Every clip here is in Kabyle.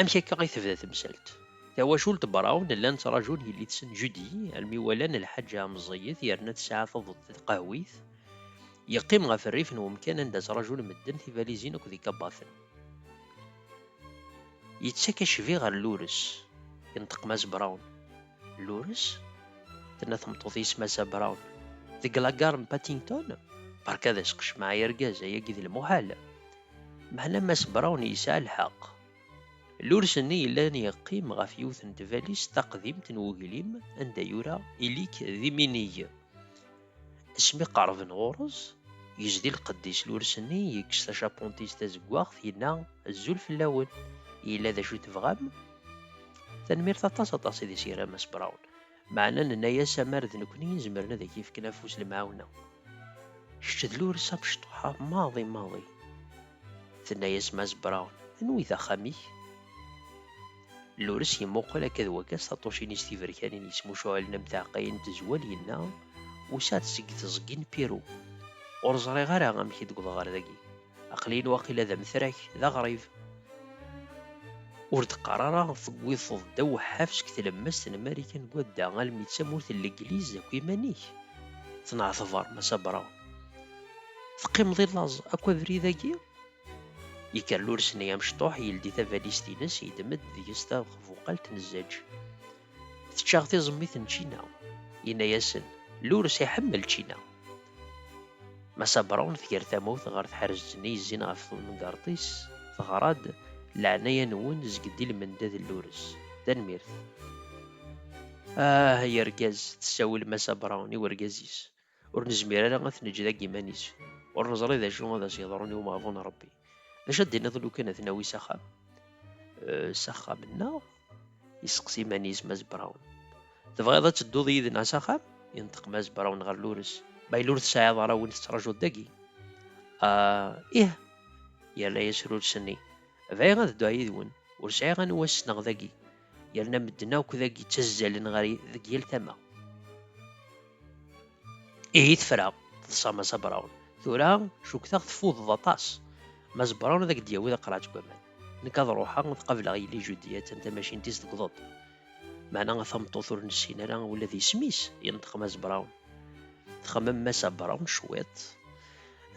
Amek akka i tebda temsalt? Tawacult Brown llan ttrajun yelli-tsen Judy almi walan lḥaǧa meẓẓiyet yerna tesɛa taḍuṭ taqehwit. Yeqqim ɣef rrif n wemkan anda ttrajun medden tibalizin akked ikabaten. Yettak acbi ɣer Lures. Yenṭeq Mass Brown. Lures? Tenna tmeṭṭut i Massa Brown. Deg lagar n Paddington? Berka d asqecmaɛ ay argaz, ayagi d lmuḥal. Meɛna Mass Brown yesɛa lḥeqq. Lurs-nni yellan yeqqim ɣef yiwet n tbalist taqdimt n weglim anda yura ili-k d iminig. Asmi qerben ɣur-s, yezdi lqedd-is lurs-nni, yekkes tacapuntit tazeggaɣt, yenna, Azul fell-awen! Yella d acu tebɣam? Tanemmirt aṭas aṭas i d-iseggra Mass Brown. Meɛna nenna-as amar d nekkni i zemren ad ak-yefken afus lemɛawna. Kečč d Lures amecṭuḥ-a maḍi maḍi. Tenna-as Mass Brown, Anwi d axxam-ik? Lures yemmuqel akka d wakka s taṭṭucin-is tiberkanin yettmucuɛlen am taɛeqqayin n tezwal yenna, Usiɣ-d seg teẓgi n Pirou. Ur ẓriɣ ara amek i d-wwḍeɣ ɣer dagi. aqlin waqila d amtrak d aɣrib ur d-qqar ara tewwiḍeḍ ddaw ḥafsek tlemmast n marikan n wadda almi d tamurt n legliz akk iman-ik tenɛetber massa brawn teqqimeḍ i laẓ akk abrid-agi yekker lurs-nni amecṭuḥ yeldi tabalizt-ines yeddem-d deg-s tabuqalt n zzaǧ Teččaɣ tiẓemmit n čina. Yenna-yasen, Lurs iḥemmel čina. Massa Brown tger tamawt ɣer tḥerzet-nni yezzin ɣef temgerḍt-is, teɣra-d, Leɛnaya-nwen zged i lmendad n Lurs. Tanemmirt. Ah, ay argaz, tessawel Massa Brown i urgaz-is. Ur nezmir ara ad t-neǧǧ deg yiman-is. Ur neẓri d acu ad as-yeḍrun i umeɣbun n Ṛebbi. D acu ad d-tiniḍ lukan ad t-nawi s axxam? Eh, s axxam-nneɣ? yesseqsi iman-is Mass Brown. Tebɣiḍ ad tedduḍ yid-neɣ s axxam? yenṭeq Mass Brown ɣer Lures. Ma yella ur tesɛiḍ ara win tettrajuḍ dagi. Ah, ih, yerna-as Lures-nni. Bɣiɣ ad dduɣ yid-wen. Ur sɛiɣ anwa ssneɣ dagi. yerna medden akk d agi ttazzalen ɣer deg yal tama. Ihi tefra, teḍsa Mass Brown. Tura, cukkteɣ teffudeḍ aṭas. Mass Brown ad ak-d-yawi d aqrac n waman. Nekk ad ruḥeɣ ad qableɣ yelli Judy, attan tamacint-is tegḍeḍ. Meɛna a tameṭṭut ur nessin ara ula d isem-is, yenṭeq Mass Brown. Txemmem Mass Brown cwiṭ.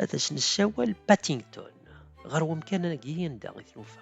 Ad as-nessawal Paddington. Ɣer wemkan-agi anda i t-nufa.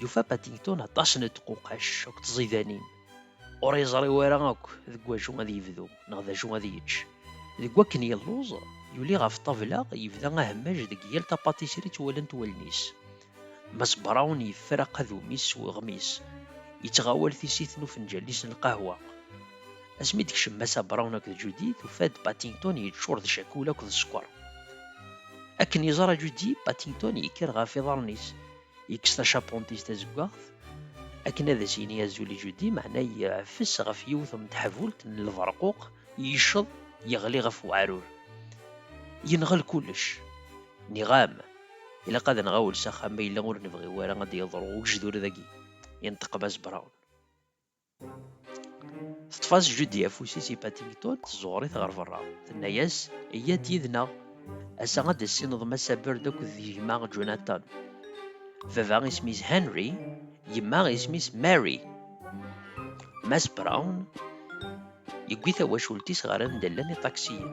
Yufa Paddington aṭas n tquqac akked tẓidanin. Ur yeẓri wara akk deg wacu ad yebdu neɣ d acu ad yečč. Deg wakken yelluẓ, yuli ɣef ṭṭabla, yebda ahemmaj deg yal tapatisri ttwalant wallen-is. Mass Brown yeffer aqadum-is s weɣmis, yettɣawal tissit n ufenǧal-is n lqahwa. Asmi d-kcem Massa Brown akked Judy, tufa-d Paddington yeččur d cakula akked sskeṛ. Akken yeẓra Judy, Paddington yekker ɣef iḍarren-is. Yekkes tacapunt-is tazeggaɣt akken ad as-yini azul i Judy, meɛna yeɛfes ɣef yiwet n teḥbult n lberquq, yecceḍ, yeɣli ɣef weɛrur. Yenɣel kullec. Niɣam, ilaq ad nɣawel s axxam ma yella ur nebɣi wara ad d-yeḍru ugejdur dagi, yenṭeq Mass Brown. Teṭṭef-as Judy afus-is i Paddington, tẓuɣer-it ɣer berra. Tenna-as, Iyya-d yid-neɣ. Ass-a ad d-tessineḍ Massa Bird akked gma Jonathan. Baba isem-is Henry, yemma isem-is Mary. Mass Brown yewwi tawacult-is ɣer anda llan iṭaksiyen.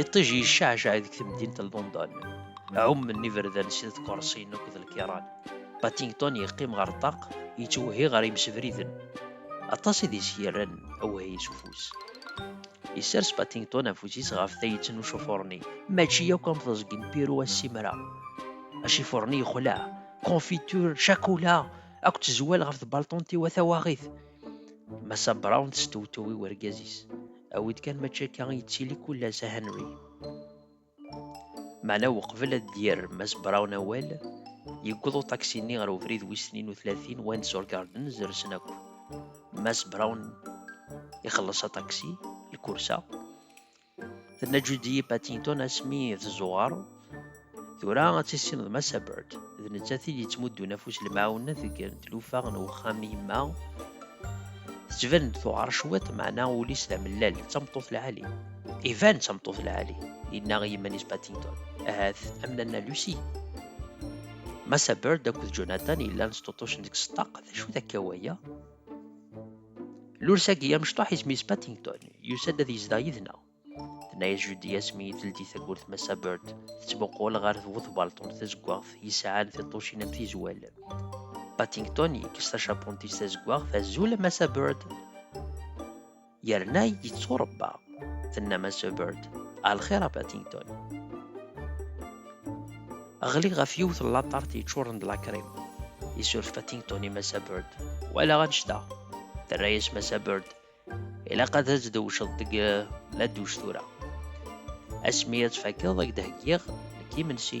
Iṭij yecceɛceɛ deg temdint n London. Ɛummen iberdan s tkersiyin akked lkiran. Paddington yeqqim ɣer ṭṭaq, yettwehhi ɣer yimsebriden. Aṭas i d-is yerran awehhi s ufus. Yessers Paddington afus-is ɣef tayet n ucufuṛ-nni. Mačči akk am teẓgi n Pirou a Simra. Acifuṛ-nni yexleɛ. Confiture, cakula, akked tezwal ɣef tbalṭunt-iw a tawaɣit. Massa Brown testewtew i wergaz-is. Awi-d kan mačči akka i yettili kullas a Henry. Meɛna weqbel ad d-yerr Mass Brown awal, yewweḍ uṭaksi-nni ɣer ubrid wis tnin u tlatin Windsor Gardens rsen akk. Mass Brown ixelleṣ aṭaksi, lkursa, Tenna Judy Paddington asmi tezzuɣer tura ad tissineḍ Massa Bird d nettat i d-yettmuddun afus lemɛawnet deg tlufa n uxxam yemma tettban-d tuɣar cwiṭ meɛna ul-is d amellal d tameṭṭut lɛali iban d tameṭṭut lɛali yenna i yiman-is Paddington ahat am nanna Lucy Massa Bird akked Jonathan yellan sṭuṭucen deg ṣeṭṭaq d acu-t akka waya Lursagi amecṭuḥ isem-is Paddington, yusa-d ad yezdeɣ yid-neɣ. Tenna-yas Judy asmi i teldi tawwurt Massa Bird, tettmuqul ɣer bu tbalṭun tazeggaɣt yesɛan tiṭṭucin am tizwal. Paddington yekkes tacapunt-is tazeggaɣt, azul a Massa Bird. yerna yetturebba tenna Mass Hubbard a lxir a Paddington ɣli ɣef yiwet n laṭart yeččuren d lakrim isuref Paddington i Mass Hubbard walaɣ annect-a terra-yas Mass Hubbard ilaq ad as-dewceḍ deg la duc tura asmi ad tfakeḍ ad k-d-heggiɣ nekk imensi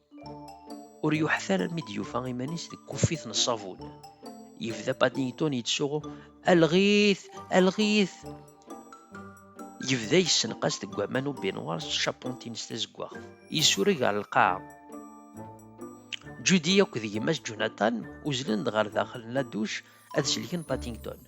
Ur yuḥet ara mi d-yufa iman-is deg kuffit n ṣṣabun. Yebda Paddington yettsuɣu, Alɣit! Alɣit! Yebda yessenqas deg waman u binwar s tcapunt-ines tazeggaɣt. Yessureg ɣer lqaɛa. Judy akked gma-s Jonathan uzlen-d ɣer daxel n laduc ad sellken Paddington.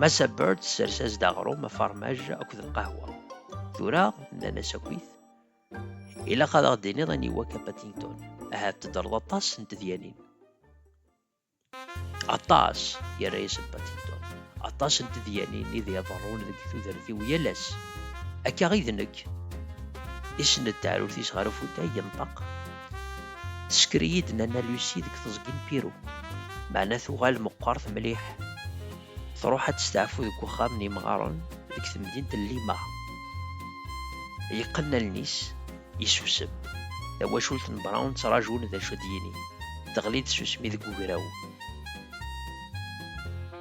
Massa Bird tessers-as-d aɣrum, afarmaj akked lqahwa. Tura, nnan-as akkit, ilaq ad aɣ-d-tiniḍ aniwa akka Paddington. Ahat teddreḍ aṭas n tedyanin. Aṭas, yerra-yasen Paddington. Aṭas n tedyanin i d iḍerrun deg tudert-iw yal ass. Akka i d nekk. Isenned taɛrurt-is ɣer ufutay, yenṭeq. Tesker-iyi-d Nana Lucie deg teẓgi n Pirou, meɛna tuɣal meqqert mliḥ. Tṛuḥ ad testeɛfu deg wexxam n yimɣaren deg temdint n Lima. Yeqqen allen-is, yessusem. Tawacult n Brown ttraǧun d acu ad d-yini. Teɣli-d tsusmi deg ugraw.